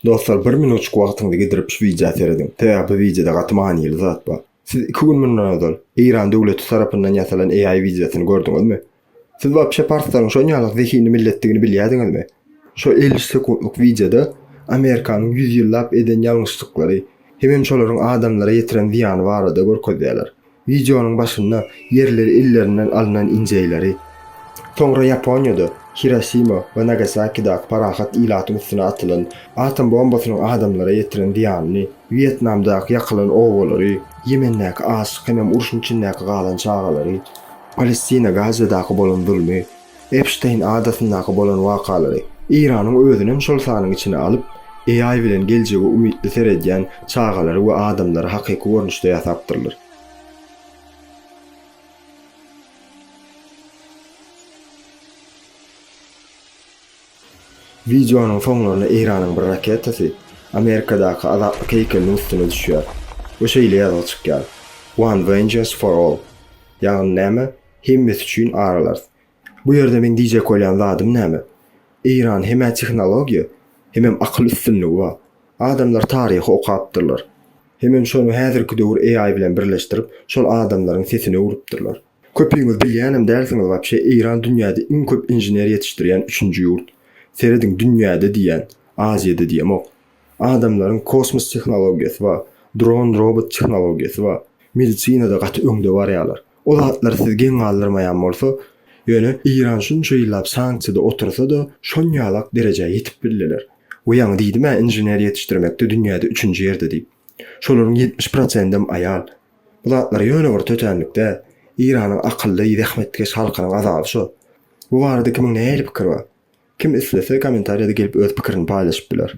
Dostlar bir minutjyk wagtyňyzy gidirip şu widýa serediň. Sebäbi bu widýoda gaty manyly zat bar. Siz iki gün mundan ozal Eýran döwleti tarapyndan ýasalan AI widýosyny gördüňizmi? Siz wapşe parslaryň şonýalak zehinli milletdigini bilýädiňizmi? Şo elli sekuntlyk widýoda Amerikanyň ýüz ýyllap eden ýalňyşlyklary hemem şolaryň adamlara ýetiren zyýany barada görkezýärler. Wideonyň başynda ýerleri illerinden alnan injeýleri, soňra Ýaponiýada Hirosima we Nagasakidaky parahat ilatyň üstüne atylan atom bombasynyň adamlara ýetiren zyýanyny, Wýetnamdaky ýakylan obalary, Ýemendäki açlyk hemem urşuň içindäki galan çagalary, Palestina, Gazadaky bolan zulmy, Epşteýn adasyndaky bolan wakalary, Eýranyň özünem şol sanyň içine alyp, AI bilen geljege umytly seredýän çagalary we adamlary hakyky görnüşde ýasapdyrlar. Wideonyň soňlarynda Eýranyň bir raketasy Amerikadaky Azatlyk heýkeliniň üstüne düşýär we şeýle ýazgy çykýar, One vengeance for all, ýagny näme, Hemmesi üçin aralarys. Bu ýerde meň diýjek bolýan zadym näme? Eýran hemä tehnologiýa, hemem akyl üstünligi bar. Adamlar taryhy okapdyrlar. Hemem şony häzirki döwür AI bilen birleşdirip, şol adamlaryň sesini öwrüpdirler. Köpüňiz bilýänem dälsiňiz wapşe Eýran dünýäde iň köp inžener ýetişdirýän üçünji ýurt. Serediň dünýäde diýýän, Aziýada diýemok. Adamlaryň kosmos tehnologiýasy bar, dron-robot tehnologiýasy bar. Medisinada gaty öňde barýarlar. O zatlar sizi geň galdyrmaýan bolsa, ýöne Eýran şunça ýyllap sanksiýada otursa-da, şonýalak derejä ýetip bildiler. We ýaňy diýdim-ä inžener ýetişdirmekde dünýäde üçünji ýerde diýip. Şolaryň ýetmiş prosendem aýal. Bu zatlar ýöne bir tötänlik däl. Eýranyň akylly, zähmetkeş halkynyň azaby şo. Bu barada kimiň nähili pikiri bar? Kim islese, kommentariýada gelip öz pikirini paýlaşyp biler.